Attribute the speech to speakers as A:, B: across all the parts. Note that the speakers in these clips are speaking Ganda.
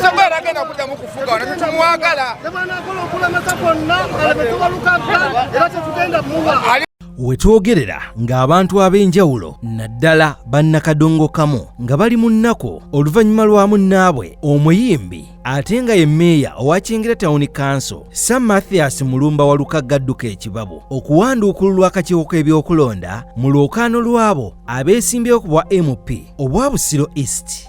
A: Sababu agenda
B: kuddamu kufuga wano tetumwagala. Wetwogerera ng'abantu ab'enjawulo naddala bannakadongo kamu nga bali mu nnaku oluvannyuma lwa munnaabwe omuyimbi ate nga ye meeya owa Kyengera Town Council Sir Mathias Mulumba Walukagga adduka ekibabu okuwanduukululwa akakiiko k'ebyokulonda mu lwokaano lw'abo abeesimbyewo ku bwa MP obwa Busiro East.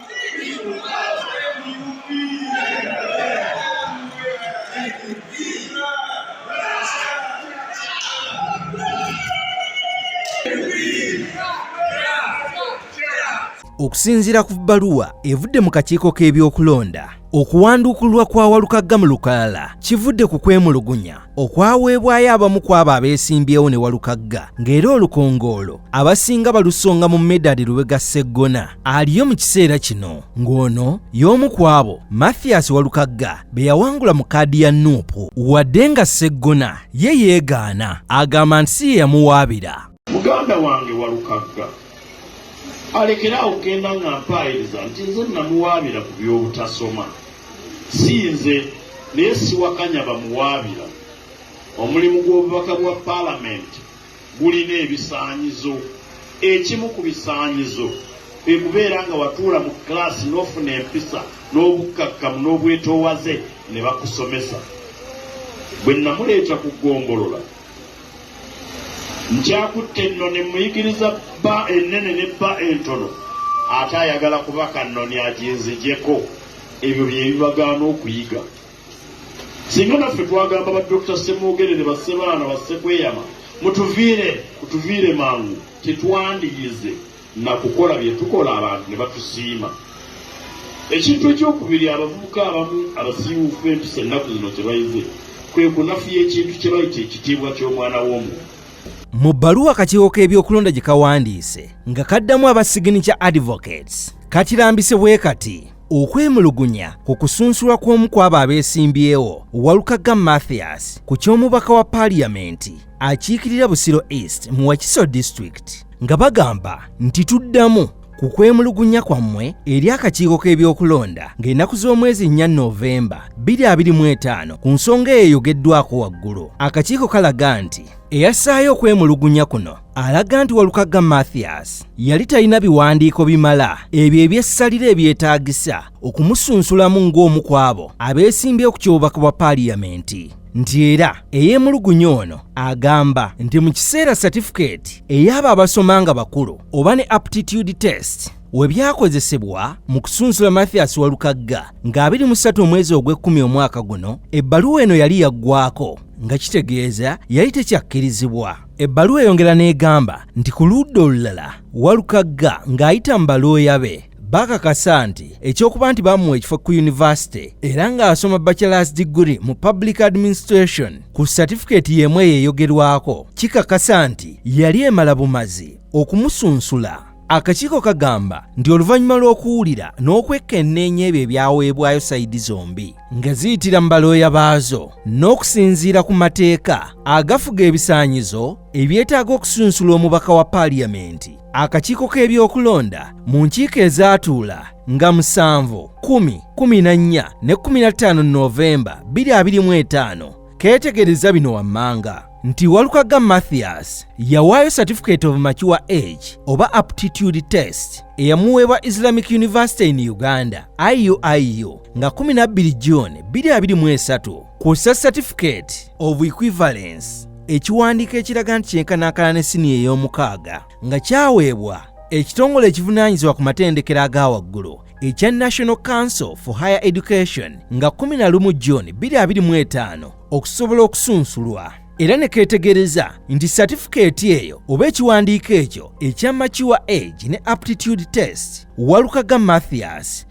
B: okusinziira ku bbaluwa evudde mu kakiiko k'ebyokulonda okuwandukulwa kwa walukagga mu lukalala kivudde ku kwemulugunya okwaweebwayo abamu ku abo abeesimbyewo ne walukagga ng'era olukongoolo abasinga balusonga mu medali lubega sseggona aliyo mu kiseera kino ng'ono y'omu ku abo mathias walukagga be yawangula mu kaadi ya nuupu wadde nga sseggona ye yeegaana agamba nti si ye yamuwaabira muganda wange
C: walukagga alekere awo kugenda nga mpaayiriza nti nze namuwaabira ku by'obutasoma si nze naye siwakanya bamuwaabira omulimu gw'obubaka bwa paalamenti gulina ebisaanyizo ekimu ku bisaanyizo kwe kubeera nga watuula mu kiraasi n'ofuna empisa n'obukkakkamu n'obwetoowaze ne bakusomesa bwe namuleeta ku ggombolola Njakutte ennoni mmuyigiriza bba ennene ne bba entono ate ayagala kubaka nnoni aginzijeko ebyo byebibagaana okuyiga singa naffe twagamba ba dokita ssemwogerere bassebaana bassekweyama mutuviire kutuviire mangu tetwandiyize na kukola bye tukola abantu ne batusiima. Ekintu eky'okubiri abavubuka abamu abasiiwuufu empisa ennaku zino kye bayize kwe kunafuya ekintu kye bayita ekitiibwa ky'omwana w'omuntu. Mu bbaluwa
B: akakiiko k'ebyokulonda gye kawandiise nga kaddamu aba Signature Advocates kakirambise bwe kati okwemulugunya ku kusunsulwa kw'omu kw'abo abeesimbyewo Walukagga Mathias ku ky'omubaka wa paaliyamenti akiikirira Busiro East mu Wakiso District nga bagamba nti tuddamu ku kwemulugunya kwammwe eri akakiiko k'ebyokulonda ng'ennaku z'omwezi nnya novemba 2025 ku nsonga eyo eyogeddwako waggulu akakiiko kalaga nti eyassaayo okwemulugunya kuno alaga nti walukagga mathias yali talina biwandiiko bimala ebyo ebyessalira ebyetaagisa okumusunsulamu ng'omu kwabo abeesimbyewo ku kyobubaka bwa paaliyamenti nti era eyemulugunya ono agamba nti mu kiseera satifikeeti ey'abo abasoma nga bakulu oba ne aptitude test we byakozesebwa mu kusunsula mathias walukagga nga 23 omwezi ogw'ekkumi omwaka guno ebbaluwa eno yali yaggwako nga kitegeeza yali tekyakkirizibwa ebbaluwa eyongera n'egamba nti ku ludda olulala walukagga ng'ayita mu balooya be bakakasa nti ekyokuba nti bamuwa ekifo ku yunivasite era ng'asoma bachelors degree mu public administration ku satifikeeti y'emu eyo eyogerwako kikakasa nti yali emala bumazi okumusunsula akakiiko kagamba nti oluvannyuma lw'okuwulira n'okwekkenneenya ebyo ebyaweebwayo sayidi zombi nga ziyitira mu balooya baazo n'okusinziira ku mateeka agafuga ebisaanyizo ebyetaaga okusunsula omubaka wa paaliyamenti Akakiiko k'ebyokulonda mu nkiiko ezaatuula nga musanvu, kumi, kumi na nnya ne kumi na ttaano Noovemba bbiri abiri mu etaano keetegereza bino wammanga nti Walukagga Mathias yawaayo Certificate of Mature Age oba Aptitude Test eyamuweebwa Islamic University in Uganda IUIU nga 12 June 2023 Kussa certificate of equivalence ekiwandiiko ekiraga nti kyenkanankana ne siniya ey'omukaaga nga kyaweebwa ekitongole ekivunaanyizibwa ku matendekero aga waggulu ekya National Council for Higher Education nga 11 June 2025 okusobola okusunsulwa era ne keetegereza nti satifikeeti eyo oba ekiwandiiko ekyo ekya Mature Age ne Aptitude Test Walukaga Mathias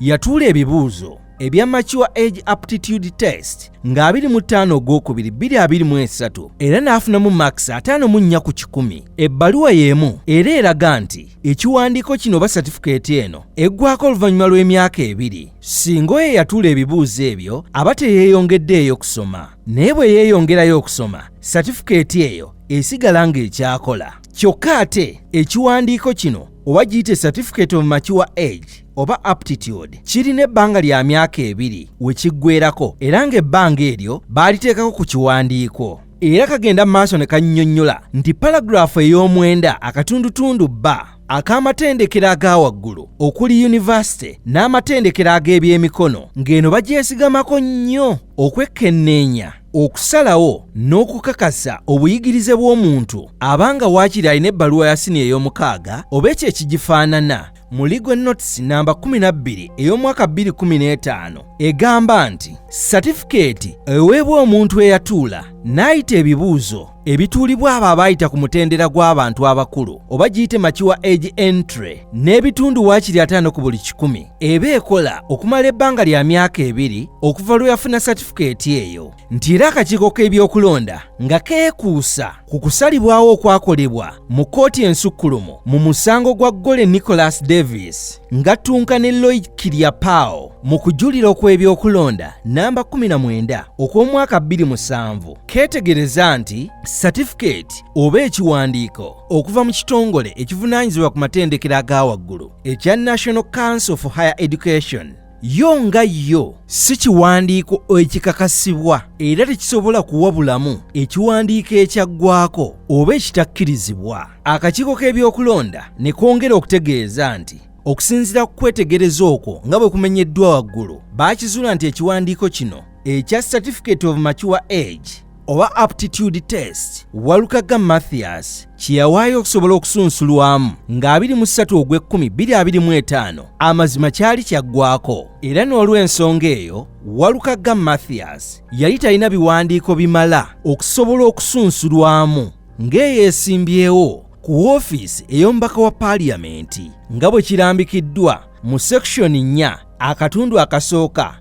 B: Yatuula ebibuuzo ebya Mature Age Aptitude Test nga 25 ogwokubiri 2023 era n'afunamu makisi ataano mu nnya ku kikumi. Ebbaluwa y'emu era eraga nti ekiwandiiko kino oba satifikeeti eno eggwako oluvannyuma lw'emyaka ebiri singa oyo eyatuula ebibuuzo ebyo aba teyeeyongeddeeyo kusoma naye bwe yeeyongerayo okusoma satifikeeti eyo esigala ng'ekyakola kyokka ate ekiwandiiko kino oba giyite certificate of mature age oba aptitude kirina ebbanga lya myaka ebiri we kiggweerako era ng'ebbanga eryo baaliteekako ku kiwandiiko era kagenda mu maaso ne kannyonnyola nti paraguraafu ey'omwenda akatundutundu bba ak'amatendekero aga waggulu okuli yunivasite n'amatendekero ag'ebyemikono ng'eno bagyesigamako nnyo okwekkenneenya okusalawo n'okukakasa obuyigirize bw'omuntu abanga waakiri alina ebbaluwa ya siniya ey'omukaaga oba ekyo ekigifaanana mu Legal Notes namba 12 ey'omwaka 2015 egamba nti satifikeeti eweebwa omuntu eyatuula n'ayita ebibuuzo ebituulibwa abo abaayita ku mutendera gw'abantu abakulu oba giyite makiwa age entry n'ebitundu waakiri ataano ku buli kikumi eba ekola okumala ebbanga lya myaka ebiri okuva lwe yafuna satifikeeti eyo nti era akakiiko k'ebyokulonda nga keekuusa ku kusalibwawo okwakolebwa mu kkooti ensukkulumu mu musango gwa gole nicholas davis ngattunka ne loid kiriapao mu kujulira okw'ebyokulonda namba 19 okw'omwaka 27 keetegereza nti satifikeeti oba ekiwandiiko okuva mu kitongole ekivunaanyizibwa ku matendekero aga waggulu ekya national council for higher education yo nga yo si kiwandiiko ekikakasibwa era tekisobola kuwa bulamu ekiwandiiko ekyaggwako oba ekitakkirizibwa akakiiko k'ebyokulonda ne kongera okutegeeza nti okusinziira ku kwetegereza okwo nga bwe kumenyeddwa waggulu baakizuula nti ekiwandiiko kino ekya certificate of mature age oba aptitude test walukaga mathias kyeyawaayo okusobola okusunsulwamu nga 23 ogw'ekkumi 225 amazima kyali kyaggwako era n'olw'ensonga eyo walukaga mathias yali talina biwandiiko bimala okusobola okusunsulwamu ng'eyeesimbyewo ku woofiisi ey'omubaka wa paaliyamenti nga bwe kirambikiddwa mu sekishoni 4 akatundu akasooka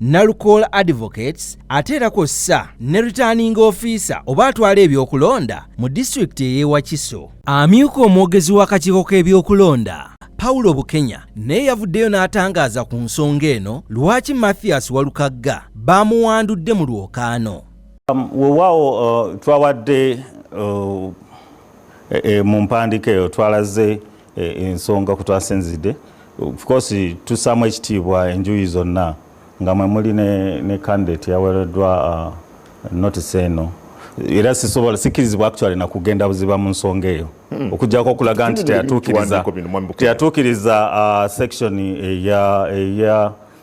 B: Nalukoola Advocates ate era kw'ossa ne returning officer oba atwala ebyokulonda mu disitulikiti ey'e Wakiso. Amyuka omwogezi w'akakiiko k'ebyokulonda Paulo Bukenya naye yavuddeyo n'atangaaza ku nsonga eno lwaki Mathias Walukagga baamuwandudde mu lwokaano. Um, wewaawo uh,
D: twawadde uh, e, e, mu mpandiika eyo twalaze E, ensonga kutwasinzidde of course tusaamu ekitiibwa enjuyi zonna nga mwe muli ne, ne candidate yawereddwa uh, notice eno era sisobola sikirizibwa actually nakugenda buziba mu nsonga eyo hmm. okujjako okulaga nti teyatuukiriza teyatuukiriza uh, section eya eya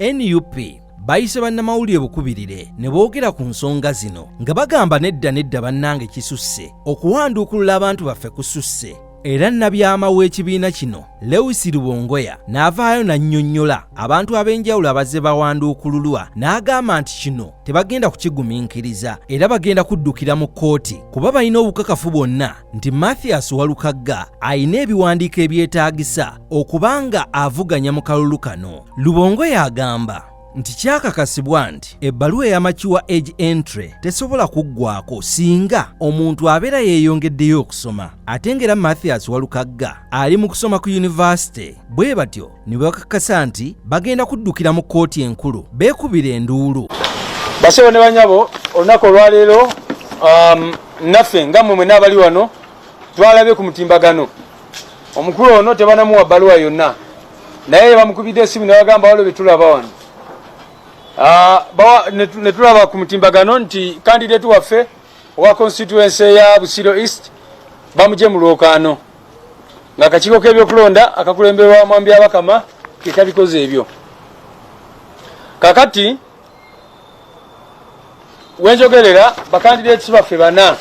B: nup bayise bannamawulire bukubirire ne boogera ku nsonga zino nga bagamba nedda nedda bannange kisusse okuwanduukulula abantu baffe kususse era nabyama w'ekibiina kino lewis rubongoya n'avaayo n'annyonnyola abantu ab'enjawulo abazze bawanduukululwa n'agamba nti kino tebagenda kukigumiikiriza era bagenda kuddukira mu kkooti kuba balina obukakafu bwonna nti mathias walukagga alina ebiwandiiko ebyetaagisa okubanga avuganya mu kalulu kano lubongo y'agamba nti kyakakasibwa nti ebbaluwa eya makiwa age entry tesobola kuggwako singa omuntu abeera yeeyongeddeyo okusoma ate ng'era mathias walukagga ali mu kusoma ku yunivasite bwe batyo ne bakakasa nti bagenda kuddukira mu kkooti enkulu beekubira enduulu basebo ne
E: banyabo olunaku olwaleero um, naffe nga mmwe mwena abali wano twalabye ku mutimbagano omukulu ono tebanamuwa bbaluwa yonna naye bamukubidde esimu nebagamba waliwo byetulaba wano ah, netulaba ku mutimbagano nti kandidate waffe owa constituency ya busiro east bamuje mu lwokaano nga akakiiko k'ebyokulonda akakulemberwa mwambi abakama kekabikoze ebyo kakati wenjogerera bakandideeti baffe bana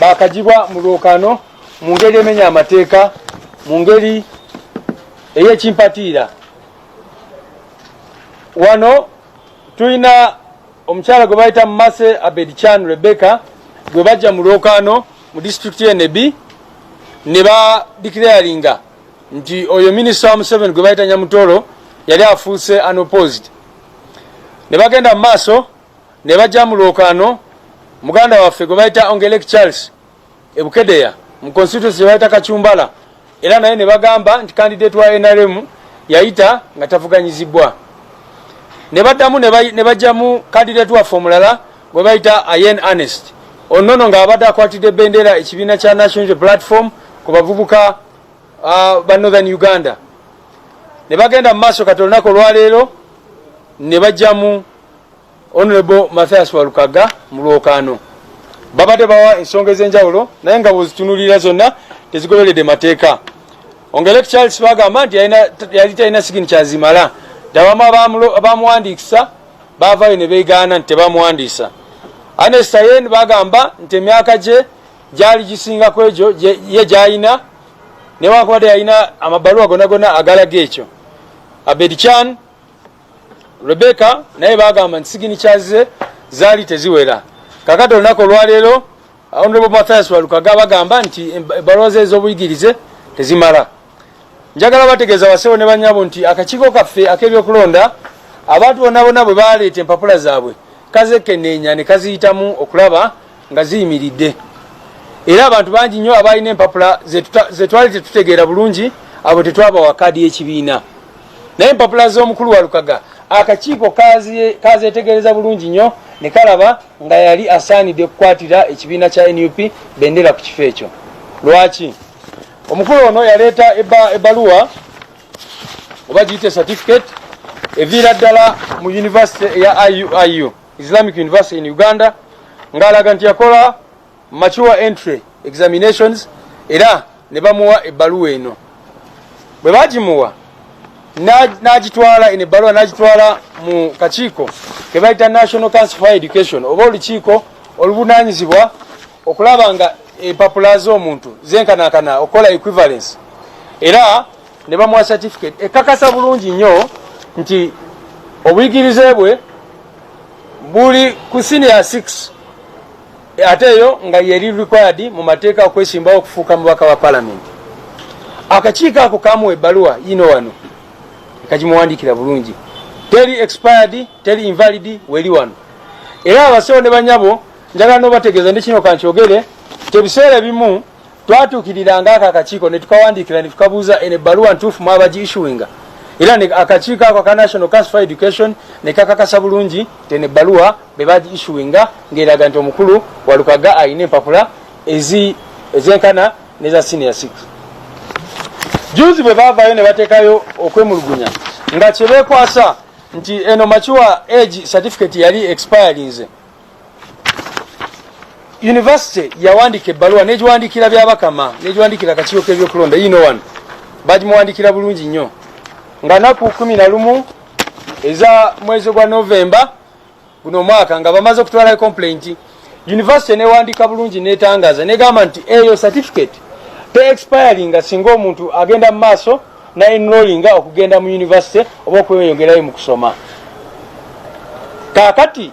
E: bakagibwa mu lwokano mu ngeri emenya amateeka mu ngeri eyekimpatiira wano tulina omukyala gwe bayita mase abed chan rebecca gwe bajja mu lwokano mu disitulikiti yenebi ne badikirayalinga nti oyo minisita wa museveni gwe bayita nyamutoro yali afuuse unopposed ne bagenda mu maaso ne bajja mu lwokaano muganda waffe gwe bayita ongelek charles ebukedeya mu constituency gye bayita kacumbala era naye ne bagamba nti kandidate wa nrm yayita nga tavuganyizibwa ne baddamu ne bajjamu kandidate waffe omulala gwe bayita ayen anest onono ng'abadde akwatidde bendera ekibiina kya national platform ku bavubuka uh, ba northern uganda ne bagenda mu maaso kati olunaku olwaleero ne bajjamu honorable mathias walukaga mu lwokaano babadde bawa ensonga ez'enjawulo naye nga bwezitunulira zonna tezigoberedde mateeka ongelek charles bagamba nti yali talina sigini kyazimala dabamu abamuwandiikisa baavayo ne beegaana nti tebamuwandiisa anestayen bagamba nti emyaka gye gyali gisinga ku egyo ye gyalina newankubadde yalina amabaluwa gona gona agalaga ekyo abed chan rebecca naye bagamba nti sigini kyazize zaali teziwera kakati olunaku olwaleero honorable mathias walukaga bagamba nti ebaluwa ze ez'obuyigirize tezimala njagala bategeeza basewo ne banyabo nti akakiiko kaffe ak'ebyokulonda abantu bonna bonna bwe baleeta empapula zaabwe kazekeneenya ne kaziyitamu okulaba nga ziyimiridde era abantu bangi nnyo abalina empapula zetwali tetutegeera bulungi abo tetwabawa kaadi y'ekibiina naye empapula z'omukulu walukaga akakiiko kazetegereza bulungi nnyo ne kalaba nga yali asaanidde okukwatira ekibiina kya nup bendera ku kifo ekyo lwaki omukulu ono yaleeta ebbaluwa oba giyite certificate eviira ddala mu yunivasite eya iuiu Islamic University in Uganda ng'alaga nti yakola mature entry examinations era ne bamuwa ebbaluwa eno bwe bagimuwa n'agitwala eno ebbaluwa n'agitwala mu kakiiko ke bayita national council for education oba olukiiko oluvunaanyizibwa okulaba nga empapula z'omuntu zenkanankana okukola equivalence era ne bamuwa certificate ekakasa bulungi nnyo nti obuyigirize bwe buli ku senior 6 ate eyo nga yeri required mu mateeka okwesimbawo okufuuka mubaka wa palamenti akakiiko ako kamuwa ebbaluwa yino wano kagimuwandiikira bulungi teri expired teri invalid weri wano era abasewo ne banyabo njagala nobategeeza ndi kino kankyogere tebiseera ebimu twatuukiriranga ako akakiiko ne tukawandiikira ne tukabuuza eno ebbaluwa ntuufu mwaba gi issuinga era akakiiko ako aka national council for education ne kakakasa bulungi teno ebbaluwa be bagi issuinga ng'eraga nti omukulu walukaga alina empapula ezenkana neza senior six juzi bwe baavaayo ne bateekayo okwemulugunya nga kyebeekwasa nti eno makiwa age certificate yali expirinze University yawandika ebbaluwa negiwandikira byabakama negiwandikira akakiiko kebyokulonda yino wano bagimuwandikira bulungi nnyo nga naku kumi na lumu eza mwezi gwa novemba guno omwaka nga bamaze okutwala complaint university newandika bulungi netangaza negamba nti eyo certificate te expiringa singa omuntu agenda mu maaso na enrollinga okugenda mu university oba okweyongerayo mu kusoma kakati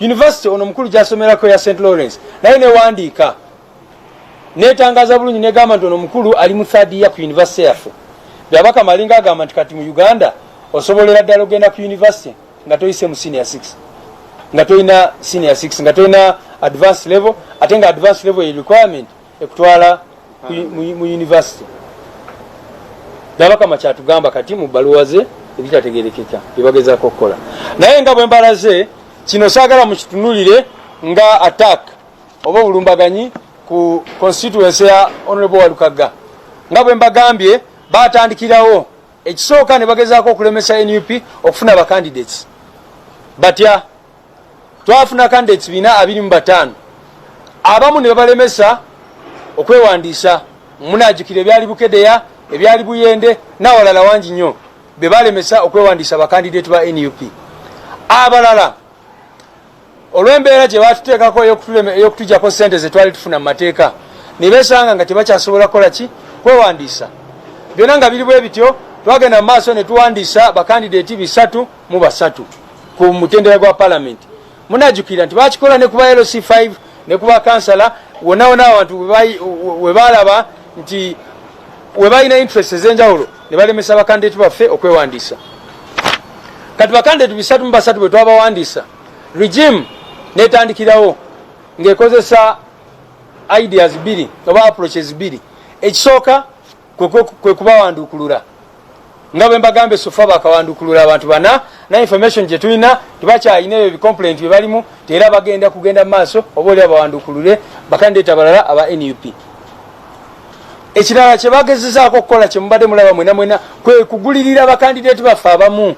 E: University ono mukulu gyasomerako ya St Lawrence naye newandiika netangaza bulungi negamba nti ono mukulu ali mu third year ku university yaffe byabaka malinga agamba nti kati mu Uganda osobolera ddala ogenda ku university nga toyise mu senior 6 nga toyina senior 6 nga toyina advanced level ate nga advanced level ye requirement ekutwala mu yunivasite nabakama kyatugamba kati mu bbaluwa ze ebitategerekeka byebagezako okukola naye nga bwembalaze kino saagala mukitunulire nga attack oba obulumbaganyi ku constituency ya honorable walukagga nga bwembagambye batandikirawo ekisooka ne bagezaako okulemesa nup okufuna bacandidates batya twafuna kandi ekibiina abiri mu bataano abamu ne babalemesa okwewandiisa munajukira ebyali bukedeya ebyali buyende nawalala wangi nnyo be balemesa okwewandiisa abakandidate ba nup abalala olw'embeera gye batuteekako ey'okutujako sente ze twali tufuna mu mateeka ne besanga nga tebakyasobola kukola ki kwewandiisa byonna nga biri bwe bityo twagenda mu maaso ne tuwandiisa bakandidate bisatu mu basatu ku mutendera gwa palamenti munajukira nti bakikola ne kuba lc 5 ne kuba kansala wona wona abantu webalaba nti webalina interest ezenjawulo ne balemesa bakandidati baffe okwewandiisa kati bakandidati bisatu mu basatu bwetwabawandiisa regime netandikirawo ng'ekozesa ideas bbiri oba approaches bbiri ekisooka kwe kubawandukulula nga bwe mbagambe sofa bakawandukulula abantu bana na information gye tulina tibakyalina ebyo bicomplaint bye balimu teera bagenda kugenda mu maaso oba oli abawandukulule bakandeeta balala aba nup ekirala kyebagezezaako okukola kyemubadde mulaba mwena mwena kwe kugulirira bakandideeti baffe abamu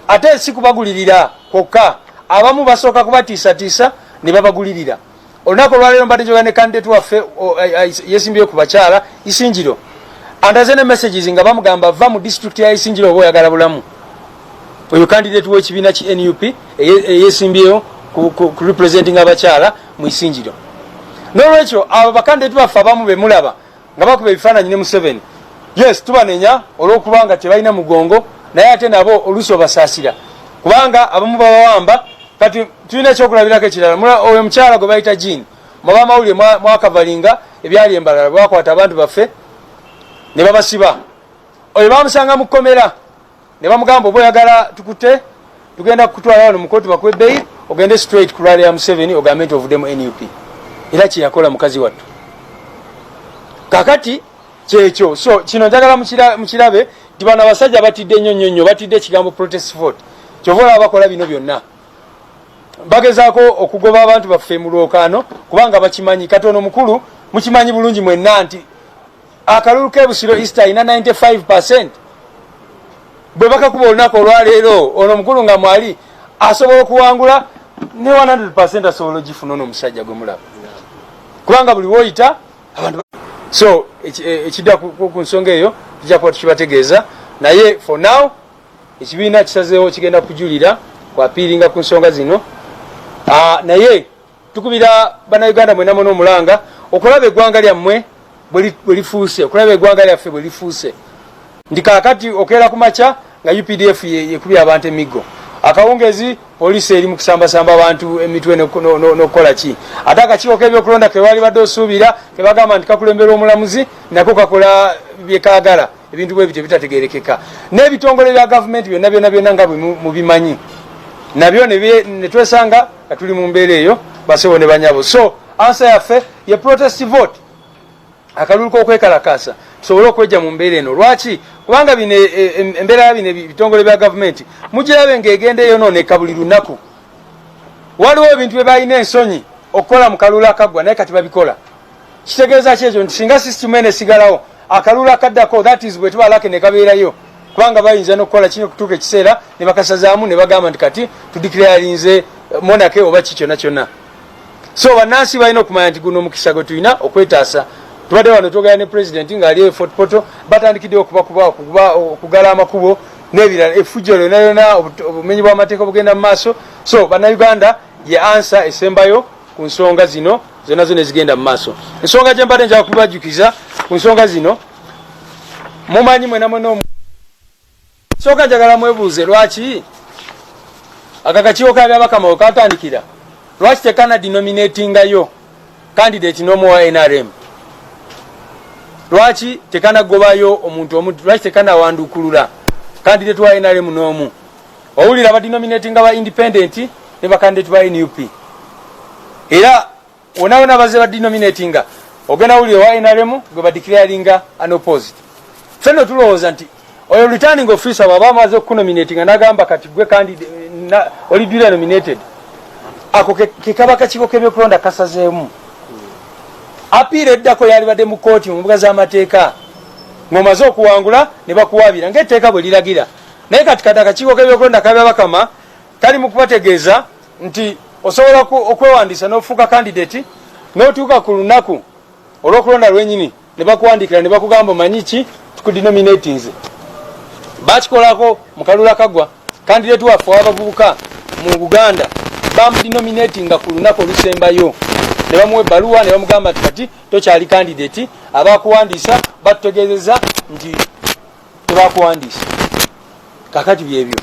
E: ate si kubagulirira kwokka abamu basooka kubatiisatiisa ne babagulirira olunaku olwaleero mbadde njogera ne kandidate waffe yesimbire ku bakyala isingiro andaze ne messages nga bamugamba va mu district ya isingiro oba oyagala bulamu oyo kandidate w'ekibiina ki nup eyesimbyeyo ku representing abakyala mu isingiro n'olwekyo abo bakandidate baffe abamu bemulaba nga bakuba ebifaananyi ne museveni yes tubanenya olwokubanga tebalina mugongo naye ate nabo oluusi obasaasira kubanga abamu babawamba kati tulina ekyokulabirako ekirala oyo mukyala gwe bayita jini mwaba amawulire mwakavalinga ebyali embalala bwakwata abantu baffe ne babasiba oyo bamusanga mu kkomera ne bamugamba oba oyagala tukute tugenda kukutwala wano mukoti bakuwe bail ogende straight ku rally ya museveni ogambe nti ovuddemu nup era kyeyakola mukazi wattu kakati kyekyo so kino njagala mukirabe nti bano abasajja batidde nnyo nnyo nnyo batidde ekigambo protest vote kyova olaba bakola bino byonna bagezaako okugoba abantu baffe mu lwokaano kubanga bakimanyi katono mukulu mukimanyi bulungi mwenna nti akalulu ke busiro east alina 95 percent bwe bakakuba olunaku olwaleero ono omukulu nga mwali asobola okuwangula ne 100 percent asobola ogifuna ono omusajja gwe mulaba kubanga buli woyita abantu so e, ekidda ku nsonga eyo tujja kuba tukibategeeza naye for now ekibiina kisazeewo kigenda kujulira kwapiiringa ku nsonga zino ah, naye tukubira bannayuganda mwena mwena omulanga okulaba eggwanga lyammwe bwe lifuuse okulaba eggwanga lyaffe bwe lifuuse nti kaakati okeera ku makya nga updf yekubya abantu emiggo akawungezi poliisi eri mu kusambasamba abantu emitwe n'okukola ki ate akakiiko k'ebyokulonda ke baali badde osuubira ke bagamba nti kakulembera omulamuzi nako kakola bye kaagala ebintu bwe bityo bitategerekeka n'ebitongole bya gavumenti byonna byonna byonna nga bwe mubimanyi nabyo ne twesanga nga tuli mu mbeera eyo basebo ne banyabo so ansa yaffe ye protest vote akalulu kokwekalakaasa tusobole okwejja mu mbeera eno lwaki kubanga bino e, e, e, embeera ya bino ebitongole bya gavumenti mugirabe ngaegenda eyonooneka buli lunaku waliwo ebintu bye balina ensonyi okukola mu kalulu akaggwa naye kati babikola kitegeeza ki ekyo nti singa sisitimu eno esigalawo akalulu akaddako that is bwe tuba lake ne kabeerayo kubanga bayinza nokukola kino okutuuka ekiseera ne bakasazaamu ne bagamba nti kati tudikirayalinze eh, monake oba ki kyonna kyonna so bannansi balina okumanya nti guno omukisa gwe tulina okwetaasa tubadde wano twogera ne pulezidenti ng'ali e fort poto batandikidde okubakuba okugala amakubo n'ebirala efujjo lyona lyona obumenyi bw'amateeka obugenda mu maaso so bannayuganda ye ansa esembayo ku nsonga zino zonna zona ezigenda mu maaso ensonga gye mbadde njaga kubibajjukiza ku nsonga zino mumanyi mwena mwena omu nsonga njagala mwebuuze lwaki aka kakiiko ka byabakama wekatandikira lwaki tekana dinominatingayo kandidate nomu wa nrm lwaki tekanagobayo omuntu omu lwaki tekanawandukulula kandidate wa nrm nomu owulira ba denominatinga ba independent ne ba candidate ba nup era wonawona baze ba denominatinga ogenda wulira owa nrm gwe ba declaringa an opposite fenno tulowooza nti oyo returning officer waba amaze okukunominatinga nagamba kati gwe kandi oli dula nominated ako kekaba kakiko kebyokulonda kasazeemu apiira eddako yalibadde mu kooti mu mbuga z'amateeka ng'omaze okuwangula ne bakuwaabira ng'etteeka bwe liragira naye kati kati akakiiko k'ebyokulonda kabya bakama kali mu kubategeeza nti osobola okwewandiisa n'ofuuka kandidati n'otuuka ku lunaku olw'okulonda lwenyini ne bakuwandiikira ne bakugamba omanyi ki tukudinominatinze bakikolako mu kalula kagwa kandidati waffe w'abavubuka mu buganda bamudinominatinga ku lunaku olusembayo ne bamuwa ebbaluwa ne bamugamba nti kati tokyali kandidati abakuwandiisa batutegeezeza nti tebakuwandiisa kakati byebyo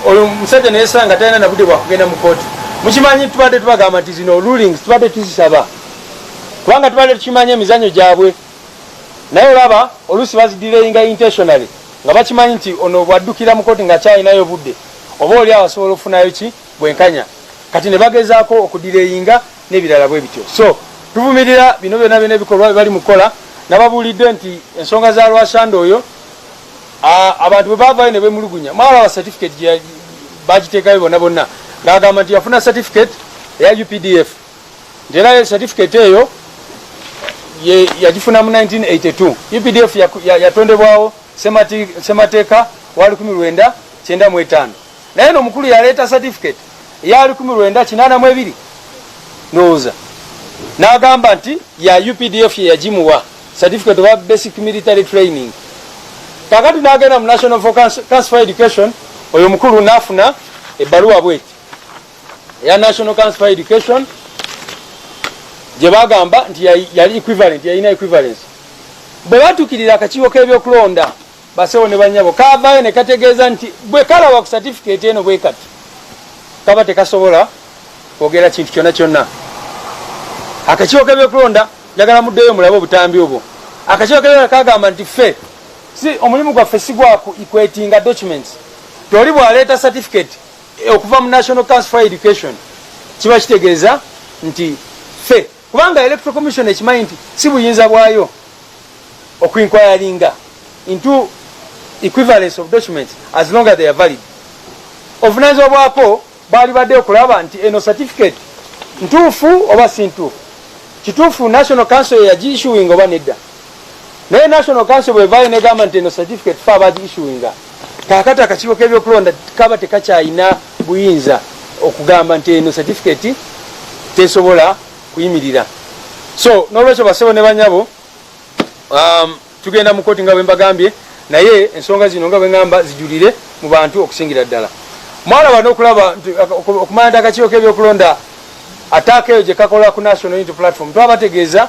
E: oyo musajja nayesanga talina nabude bwakugenda mu kooti mukimanyi tubadde tubagamba nti zino rulings tubadde tuzisaba kubanga tubadde tukimanyi emizanyo gyabwe naye olaba oluusi bazidireyinga intentionally nga bakimanyi nti ono bwaddukira mu kooti nga kyalinayo budde oba oli awo asobola okufunayo ki bwenkanya kati ne bagezaako okudireyinga nebirala bwe bityo so tuvumirira bino byona byona ebikolwa bebali mukola nababuulidde nti ensonga za lwasanda oyo abantu bwe bavayo ne bemulugunya mwalaba certificate bagiteekayo bona bonna ngaagamba nti yafuna certificate eya updf nti era certificate eyo yagifuna mu 1982 updf yatondebwawo semateeka wa 1 9 95 naye no mukulu yaleeta certificate eya lukumi lwenda kinaana mu ebiri ndowooza n'agamba nti ya updf yeyagimuwa certificate oba basic military training kakati n'agenda mu national for council for education oyo mukulu n'afuna ebbaluwa bweti eya national council for education gye bagamba nti yali equivalent yalina equivalence bwe batukirira akakiiko k'ebyokulonda Basewo ne banyabo kavaayo ne kategeeza nti bwe kalaba ku satifikeeti eno bwe kati kaba tekasobola kwogera kintu kyonna kyonna. Akakiiko k'ebyokulonda njagala muddeyo mulabe obutambi obwo. Akakiiko k'ebyokulonda kagamba nti ffe si omulimu gwaffe si gwa kwetinga documents. Toli bw'aleeta satifikeeti eh, okuva mu National Council for Education kiba kitegeeza nti ffe kubanga electoral commission ekimanyi nti si buyinza bwayo okuinquiringa into equivalence of documents as long as they are valid obuvunanyizibwa bwako bwalibadde okulaba nti eno certificate ntuufu oba si ntuufu kituufu national council yagiissuing oba nedda naye national council bwevayo negamba nti eno certificate fe abagi issuinga kakati akakiiko kebyokulonda kaba tekakyayina buyinza okugamba nti eno certificate tesobola kuyimirira so nolwekyo basebo ne banyabo um, tugenda mu koti nga bwembagambye naye ensonga zino nga bwegamba zijulire mu bantu okusingira ddala mwalaba nokulaba nti okumanya nti akakiiko kebyokulonda ataaka eyo gyekakola ku national unity platform twabategeeza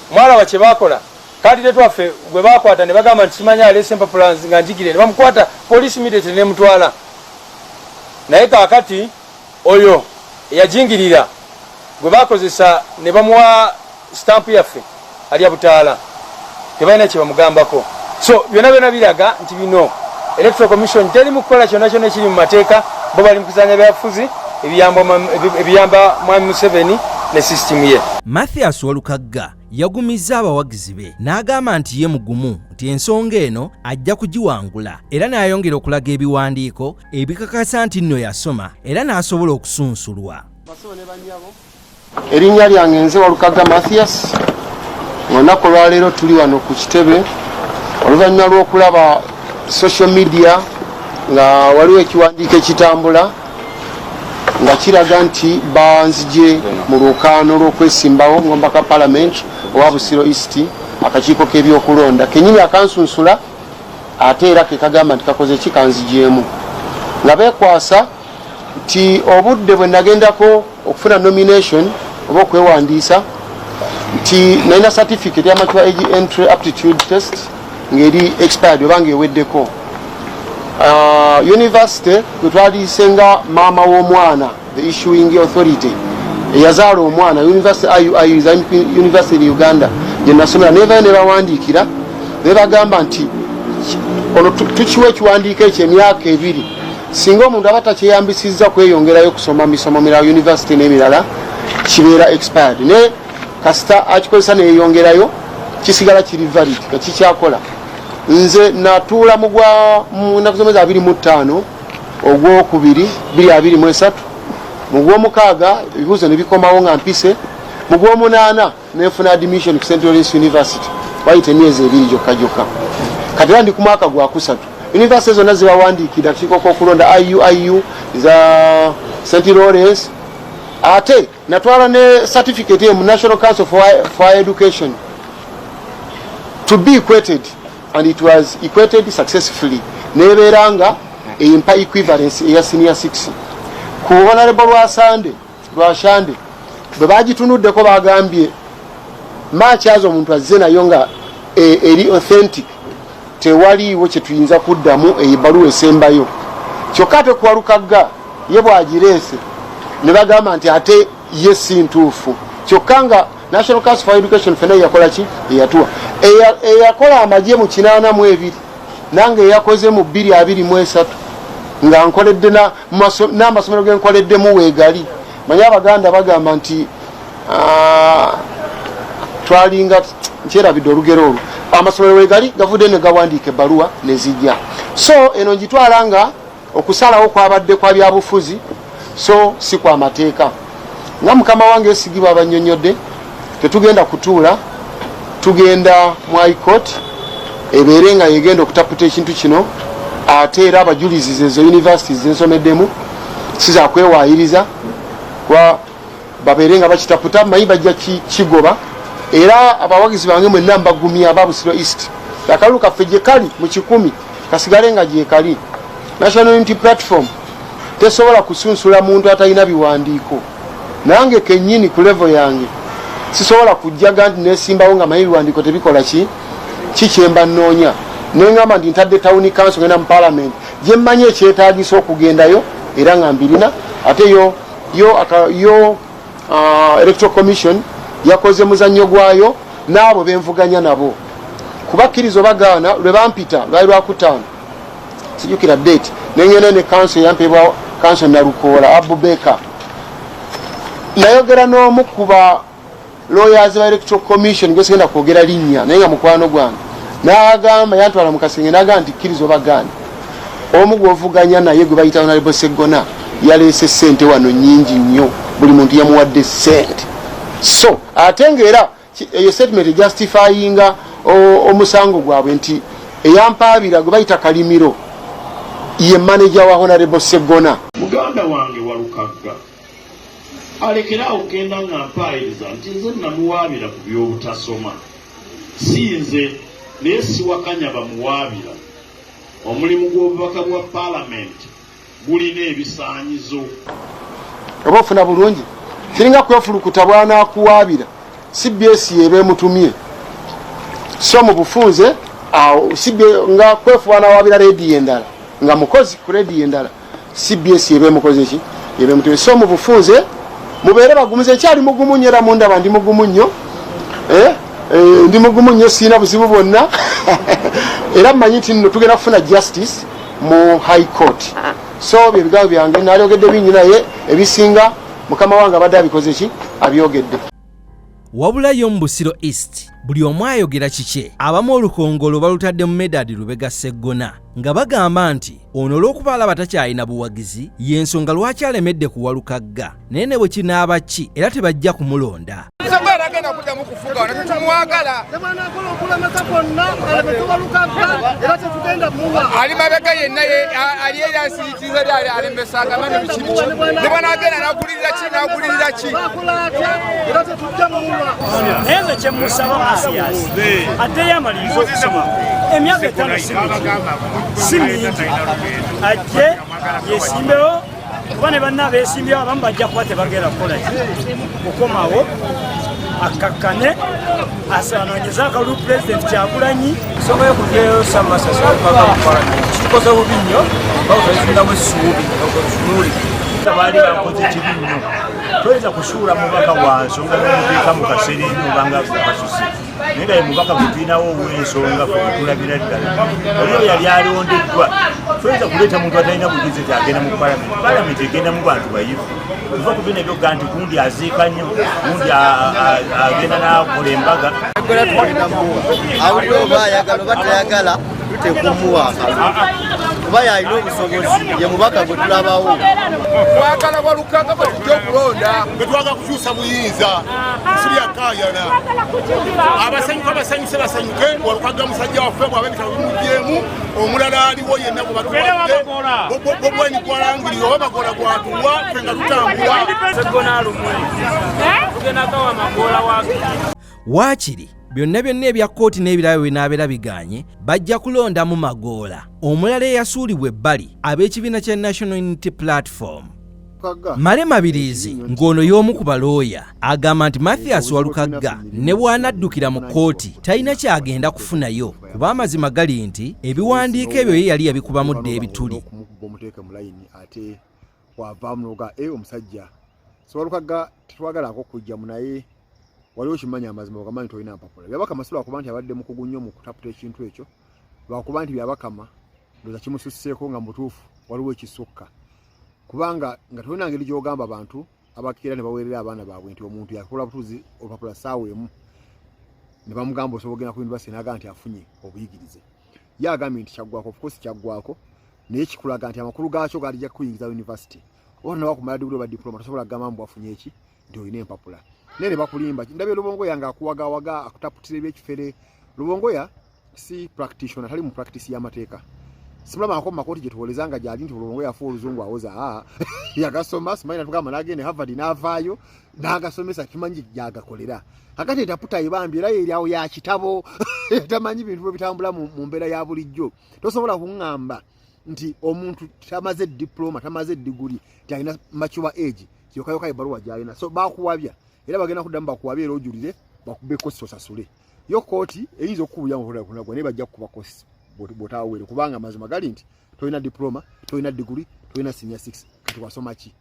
E: Mwalaba kye baakola kandidate waffe gwe baakwata ne bagamba nti simanyi aleese empapula nga njigire ne bamukwata poliisi immediately nemutwala naye kaakati oyo eyajingirira gwe bakozesa ne bamuwa stampu yaffe alya butaala tebalina kye bamugambako so byonna byona biraga Bino Electoral Commission teri mu kukola kyonna kyonna ekiri mu mateeka, bo bali mu kuzanya byabufuzi ebiyamba Mwami Museveni ne sisitimu ye. Mathias Walukagga
B: yagumizza abawagizi be n'agamba nti ye mugumu nti ensonga eno ajja kugiwangula era n'ayongera okulaga ebiwandiiko ebikakasa nti nno yasoma era n'asobola okusunsulwa.
F: Erinnya lyange nze Walukaga Mathias. Olunaku olwaleero tuli wano ku kitebe oluvannyuma lw'okulaba social media nga waliwo ekiwandiiko ekitambula nga kiraga nti banzije mu lwokaano lw'okwesimbawo ngomba ka palamenti owa busiro east akakiiko k'ebyokulonda kenyini akansunsula ate era kekagamba nti kakoze ki kanzijeemu nga bekwasa nti obudde bwe nagendako okufuna nomination oba okwewandiisa nti nalina certificate ya mature age entry aptitude test ng'eri expired oba ng'eweddeko uh, university kwe twaliise nga maama w'omwana the issuing authority eyazaala omwana university iui islamic university in uganda gye nasomera naye vayo ne bawandiikira ne bagamba nti ono tukiwa ekiwandiiko ekyo emyaka ebiri singa omuntu aba takyeyambisizza kweyongerayo kusoma misomo mirala univesity n'emirala kibeera expired naye kasita akikozesa neyeyongerayo kisigala kiri valid nga kikyakola nze natuula mugwa munaku zomwezi abiri mu ttaano ogwokubiri biri abiri mu esatu mugwomukaaga ebibuuzo ne bikomawo nga mpise mugwomunaana nenfuna admission ku central east university wayita emyezi ebiri gyokka gyokka kati era ndi ku mwaka gwakusatu univesity zonna zibawandiikira tukiiko kwokulonda iu iu za st lawrence ate natwala ne certificate emu national council for, for education to be equated and it was equated successfully nebeera nga empa equivalence eya senior 6 ku honorable lwa sunday lwashande bwe bagitunuddeko bagambye makyaza omuntu azze nayo nga e, eri authentic tewaliiwo kyetuyinza kuddamu eyo ebbaluwa esembayo kyokka ate kuwalukagga ye bwagireese ne bagamba nti ate ye si ntuufu kyokka nga national council for education fena eyakola ki eyatuwa eyakola amagye mu kinaana mu ebiri nange eyakoze mu bbiri abiri mu esatu nga nkoledde n'amasomero genkoleddemu weegali manye abaganda bagamba nti ah, twalinga nkyerabidde olugero olwo amasomero wegali gavudde ne gawandiika ebbaluwa ne zijja so eno ngitwala nga okusalawo kwabadde kwa byabufuzi so si kwa mateeka nga mukama wange esigi bwabanyonyodde tetugenda kutuula tugenda mu icourt ebeere nga yegenda okutaputa ekintu kino ate era abajulizi zezo univesity zensomeddemu sizakwewayiriza kuba babeere nga bakitaputa manyi bajja kigoba era abawagizi bange mwenna mbagumya babusiro east akalulu kaffe gyekali mu kikumi kasigale nga gyekali national unity platform tesobola kusunsula muntu atalina biwandiiko nange kenyini ku levo yange sisobola kujjaga nti nesimbawo nga maye biwandiiko tebikola ki kikyemba nnoonya nengamba nti ntadde tawuni kanso genda mu palamenti gyemmanyi ekyetagisa okugendayo era nga mbirina ate yo yo, yo uh, electoral commission yakoze muzannyo gwayo n'abo benvuganya nabo kubakkiriza obagaana lwe bampita lwali lwakutaano sijukira date nengenda ne kanso eyampebwa kanso nalukoola abubeka nayogera n'omu kuba lawyers ba electoral commission gwesigenda kwogera linnya naye nga mukwano gwange nagamba yantwala mukasenge nagamba nti kkiriza obagaana omu gwovuganya naye gwe bayita onalebo seggona yaleese sente wano nyingi nnyo buli muntu yamuwadde sente so ate nga era eyo statement ejustifyinga omusango gwabwe nti eyampaabira gwe bayita kalimiro ye maneja wa honarebo segona muganda wange
C: walukagga alekere awo kugenda nga mpaayiriza nti nze namuwaabira ku by'obutasoma si nze naye siwakanya bamuwaabira Omulimu gw'obubaka bwa palamenti gulina ebisaanyizo.
F: Oba ofuna bulungi kiringa kwefulukuta bwanakuwaabira cbs yeeba emutumye so mu bufunze awo nga kwefuba nawaabira rediyo endala nga mukozi ku rediyo endala. cbs yeba emukoze ki yeba emutebe so mu bufunze mubeere bagumu ze ekyali mugumu nnyo era mundaba ndi mugumu nnyo eh, eh, ndi mugumu nnyo sirina buzibu bwonna era mmanyi nti nno tugenda kufuna justice mu high court so bye bigambo byange nalyogedde bingi naye ebisinga mukama wange abadde abikoze ki abyogedde wabula
B: yo mu busiro east buli omu ayogera kikye abamu olukongolo balutadde mu medadi lubega seggona nga bagamba nti ono olw'okuba alaba takyalina buwagizi y'ensonga lwaki alemedde kuwalukagga naye ne bwe kinaaba ki era tebajja kumulonda
A: ali mabega yenna ali Size lyali alembesanga mani biki biki ne banaagenda n'agulirira
G: ki n'agulirira ki naye nze kye musaba masiyasi ateyo amaliriza okusoma emyaka etaano si mingi ajje yesimbewo kuba ne banna beesimbyewo abamu bajja kuba tebagenda kukola ki okukomawo akkakkane asanonyeze akalulu pulezidenti kyagulanyi ensonga yokujeyo samasasi okuvaga mu palamenti kitukoze bubi nnyo bakutunamu essuubi okotunuli baali bakoze kibi nnyo toyinza kusuula mubaka wa nsonga nomuteeka mu kaseera enyo obanga kasuse naye nga ye mubaka gutulinawo owensonga kwekulabira ddala oli oyo yali alondeddwa toyinza kuleeta muntu atalina bugezi ti agenda mu palamenti palamenti egenda mu bantu bayivu Ebiva ku bino ebyoga nti gundi aziika nnyo gundi agenda nakola embaga agola tuwulinamu awulira
H: oba ayagala oba tayagala tuteeka omuwa kuba yalina obusobozi ye mubaka gwe tulabawo twagala
A: walukaga bajja okulonda betwaga kukyusa
I: buyinza siyakayana abasanyuka basanyuse basanyuke walukaga musajja waffe bwabe bitabo bimujeemu omulala aliwo yenna bwebatuwadde gwarangirira oba magoola gwatuwa fe nga
G: tutambulawaakiri
B: byonna byonna ebya kkooti n'ebirabo binaabeera biganye bajja kulondamu magoola omulala eyasuulibwa ebbali ab'ekibiina kya national unity platform Male Mabiriizi ng'ono y'omu ku balooya agamba nti Mathias Walukagga ne bw'anaddukira mu kkooti talina ky'agenda kufunayo kuba amazima gali nti ebiwandiiko ebyo ye yali yabikubamu dda ebituli
J: eh, omusajja siwalukagga tetwagalako kujja mu naye waliwo kimanya amazima ogamanyi tolina mpapula byabakama si lwakuba nti abadde mukugu nnyo mu kutaputa ekintu ekyo lwakuba nti byabakama ndoza kimususseeko nga mutuufu waliwo ekisukka kubanga nga tolina ngeri gyogamba bantu abakeera ne baweerera abaana baabwe nti omuntu yakola butuuzi olupapula saawa emu ne bamugamba osobola ogenda ku yunivasite naga nti afunye obuyigirize ye agambye nti kyaggwako ofkosi kyaggwako naye kikulaga nti amakulu gaakyo gaalija kukuyingiza yunivasite oba nawakumala diguli oba diploma tosobola kugamba mbu afunye eki nti olina empapula naye ne bakulimba ndabye lubongo yange akuwagawaga akutaputira ebyekifere lubongo ya si practitioner tali mu practice y'amateeka simulaba ako mumakooti gyetuwoleza nga gyali nti bulongo yafa oluzungu awoza ah, yagasoma simanyi natugamba nagenda havard navaayo nagasomesa kimanyi gyagakolera kakati etaputa ebambi era yeryawo yakitabo tamanyi bintu bwebitambula mu mbeera ya bulijjo tosobola kuŋŋamba nti omuntu tamaze diploma tamaze diguli talina mature age kyokayoka ebaluwa gyalina so bakuwabya era bagenda kuddamu bakuwabya era ojulire bakube kosi osasule yo kooti eyinza okukubuya muhulakunagwa naye bajja kukuba kosi bwotawawere kubanga amazima gali nti tolina diploma tolina diguli tolina senior six kati wasoma ki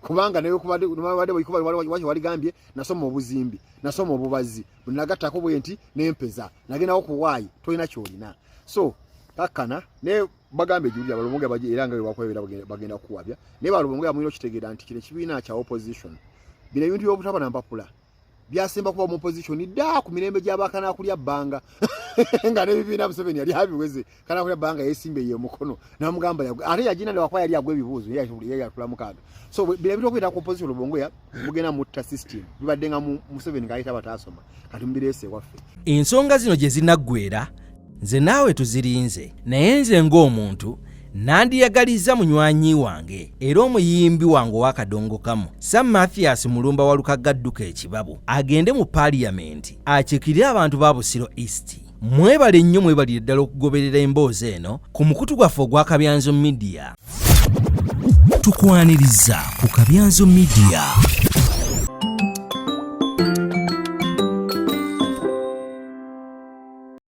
J: kubanga naye kubadde waligambye nasoma obuzimbi nasoma obubazi nagattako bwe nti nempeza nagendawo kuwaayi tolina kyolina so kakkana naye bagambe juli abalumuge baje era nga bwe bakwebera bagenda kuwabya naye balumuge amuyina okitegeera nti kino ekibiina kya opposition bino ebintu by'obutaba na mpapula byasemba kuba mu opposition ddaa ku mirembe gy'abaakana kulya bbanga nga n'ebibiina museveni yali abiweze kana kula banga yesimbe ye mukono na mugamba ya ate ya jina lwa kwa yali agwe bibuzo ya shubuli ya kula mukaga so bila bito kwita ku position lubongo ya mugena mutta system bibadenga mu museveni kaita batasoma kati mbirese wafe ensonga zino je
B: zinagwera nze naawe tuzirinze naye nze ng'omuntu nandiyagaliza munywanyi wange era omuyimbi wange ow'akadongo kamu sam mathias mulumba walukagga dduka ekibabu agende mu paliyamenti akikire abantu ba busiro east Mwebale nnyo mwebalire ddala okugoberera emboozi eno ku mukutu gwaffe ogwa Kabyanzo Media. Tukwaniriza ku Kabyanzo Media.